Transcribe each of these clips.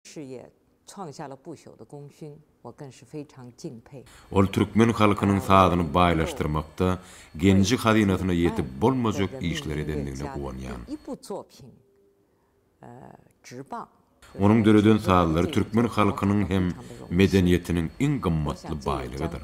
Şü ye çuang xia le bu xiu de gong xun, wo gen shi fei chang jing pei. Ol türkmen halkynyň sazyny baýlaşdyrmakda genji hazynasyna ýetip bolmajak işleri edendigine guwanýan. Onuň döreden sazlary türkmen halkynyň hem medeniýetiniň iň gymmatly baýlygydyr.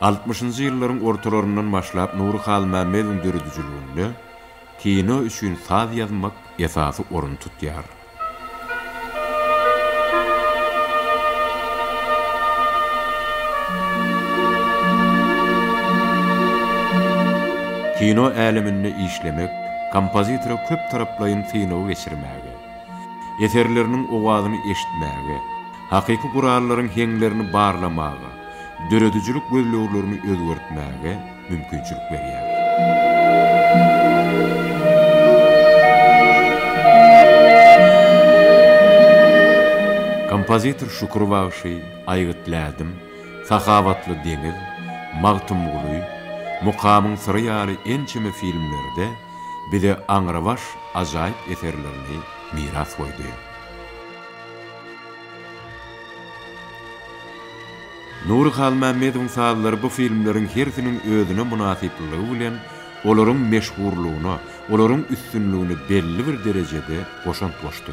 Altmyşynjy ýyllaryň ortalaryndan başlap Nury Halmämmediň döredijiliginde kino üçin saz ýazmak esasy orun tutýar. Kino äleminde işlemek kompozitora köptaraplaýyn synagy geçirmäge, eserleriniň owazyny eşitmäge, Hakyky gurallaryň heňlerini barlamaga, döredijilik gözleglerini özgertmäge mümkinçilik berýär. Kompozitor Şükür bagşy, Aýgyt lädim, Sahawatly deňiz, Magtymguly, Mukamyň syry ýaly ençeme filmlerde bize aňrybaş ajaýyp eserlerini miras goýdy. Nury Halmämmedowyň sazlary bu filmleriň hersiniň özüne mynasyplylygy bilen olaryň meşhurlygyna, olaryň üstünligine belli bir derejede goşant goşdy.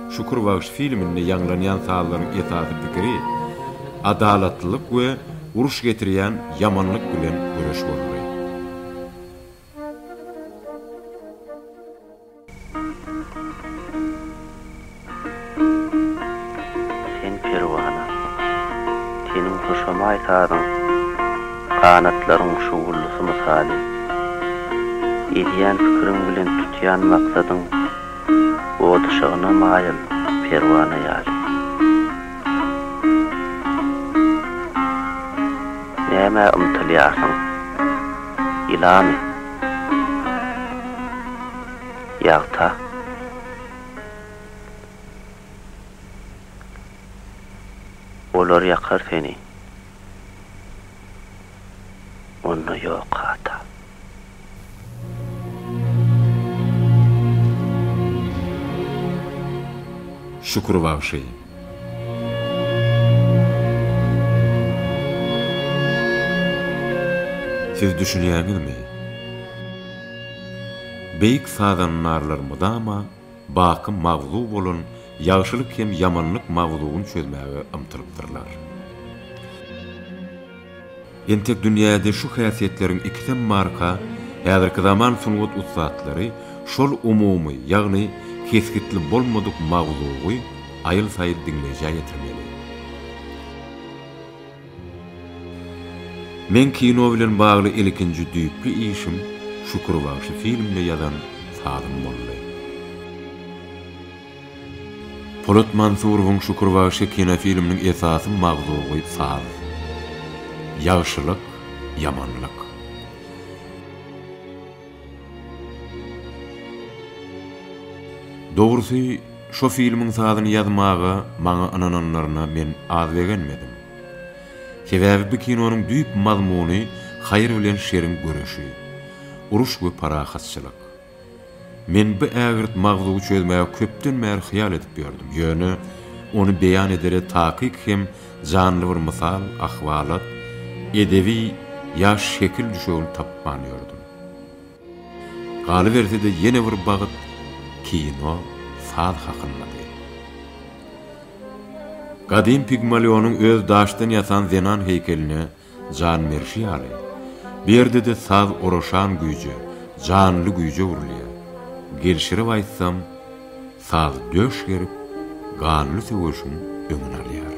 Şükür bagşy filminde ýaňlanýan sazlaryň esasy pikiri adalatlylyk we uruş getirýän ýamanlyk bilen göreş bolmaly. Sen perwana, seniň hoşamaý sazyň ganatlaryň şugullusy mysaly, edýän pikiriň bilen tutýan maksadyň, Ot yşygyna maýyl perwana ýaly. Nämä ymtylýarsyň? Ýylamy? Ýagta? Olar ýakar seni. Onda ýok hata. Şükür bagşy. Siz düşünýäňizmi? Beýik sazandarlar mydama baky mawzug bolan ýagşylyk hem ýamanlyk mawzugyny çözmäge ymtylypdyrlar. Entek dünýäde şu häsiýetleriň ikisem barka, häzirki zaman sungat ussatlary şol umumy, ýagny kesgitli bolmadyk mawzugy aýyl-saýyl diňleýjä ýetirmeli. Meň kino bilen bagly ilkinji düýpli işim Şükür bagşy filmine ýazan sazym boldy. Polat Mansurowyň Şükür bagşy kinofilminiň esasy magzugy saz. Ýagşylyk, ýamanlyk. Dogrusy, şo filmiň sazyny ýazmaga maňa ynananlaryna men az begenmedim. Sebäbi bu kinonyň düýp mazmuny haýyr bilen şeriň göreşi, uruş we parahatçylyk. Men bu ägirt mawzugy çözmäge köpden bäri hyýal edip ýördüm, ýöne ony beýan edere takyk hem Janly bir mysal, ahwalat, edebi ýaş şekil düşegini tapman ýördüm. Galyberse-de ýene bir bagt kino, saz hakyndady. Gadym Pigmalionyň öz daşdan ýasan zenan heýkeline Jan berşi ýaly, bu ýerde-de saz oraşan güýje, janly güýje öwrülýär. Gelşirip aýtsam, saz döş gerip, ganly söweşiň öňüni alýar.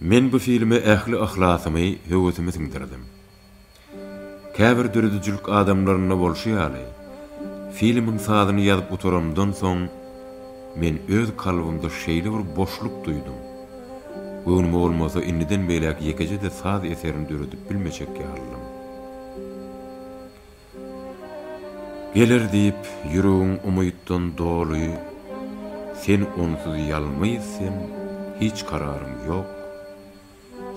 Men bu filme ähli yhlasymy, höwesimi siňdirdim. Käbir döredijilik adamlarynda bolşy ýaly, filmiň sazyny ýazyp gutaramdan soň, men öz kalbymda şeýle bir boşluk duýdum, göwnüme bolmasa indiden beýläk ýekeje-de saz eserini döredip bilmejek ýalydym. Geler diýip ýüregim umytdan doly Sen onsuz ýalňyz sen hiç kararyň ýok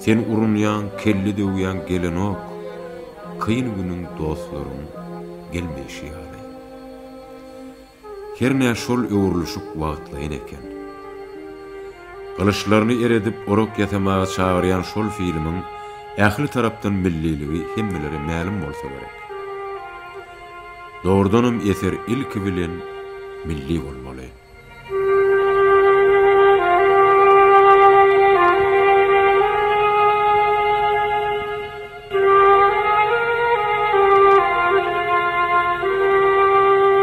Sen urunýaň kelle döwýäň gelenok Kyn günüň dostlaryň gelmeýşi ýaly. Hernä şol öwrülişik wagtlaýyn eken. Gylyçlaryny eredip orak ýasamaga çagyrýan şol filmiň ähli tarapdan milliligi hemmelere mälim bolsa gerek. Dogrudanam eser ilki bilen milli bolmaly.